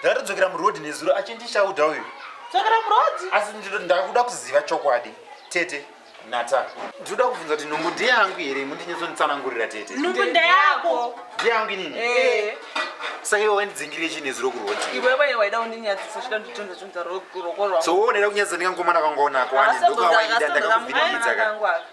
ndakatodzokera muroad nezuro achindichauda uyu asi ndakuda kuziva chokwadi tete nata ndinoda kubvunza kuti nhumbu ndeyangu here mundinyesonitsanangurira tete nhumbu ndeyako ndeyangu inini eh. saka iwe wandidzingirire chii nezuro kuroti iwewe waida undinyadzisa chida nditonzvunza rokorwa so woonera kunyadzisa ndikangomana kangoonako wani ndokawaida ndakakuvinimidzaka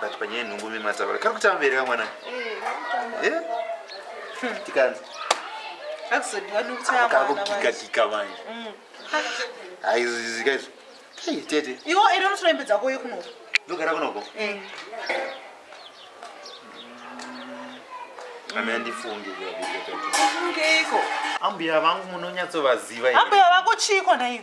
but panyaya yenhumbu mimatava kari kutamba here kamwana eh, hmm. tikanzi kakugigagika manje hmm. haizizikaizvo ei tete iwo ere unotora imbe dzako uye kunoko ndogara kunoko eh. ame andifunge ambuya vangu munonyatsovaziva ambuya vako chiiko naiyo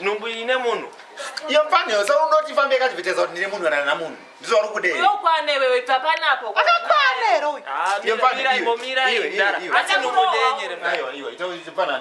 nhumbu ine munhu iyo mfaneo sa unoti famba yakadvetesa kuti ndine munhu kana na munhu ndizo vari kudei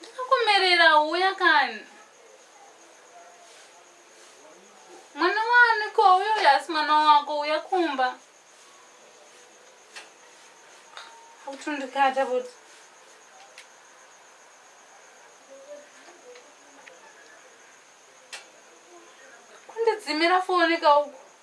Ndakakumerera uya kani. Mwana wani ko uyo yasi mwana wako uya kumba. Utundikata kuti kundidzimira foni kauku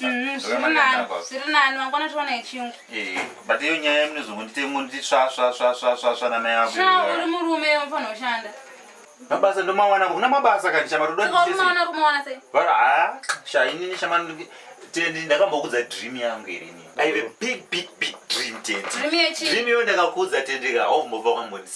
Mm, zviri nani wangona tiona yechiyungu eh, but iyo nyaya yemunozongonditengonditi svasvasvasvasvasva namai ako uri murume unofanira kushanda mabasa ndomawana kuna mabasa kani shama todainini shama tendi ndakambokudza dream yangu irini aive big big big dream tendi dream iyo ndakakudza tendika aumbova kwambonisa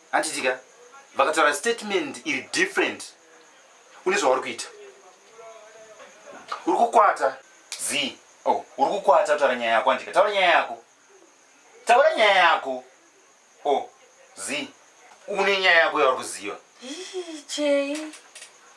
handitika vakataura statement iri different une zvauri kuita uri kukwata z oh, uri kukwata kutaura nyaya yako andika taura nyaya yako taura nyaya yako o oh, z une nyaya yako yauri kuziva chei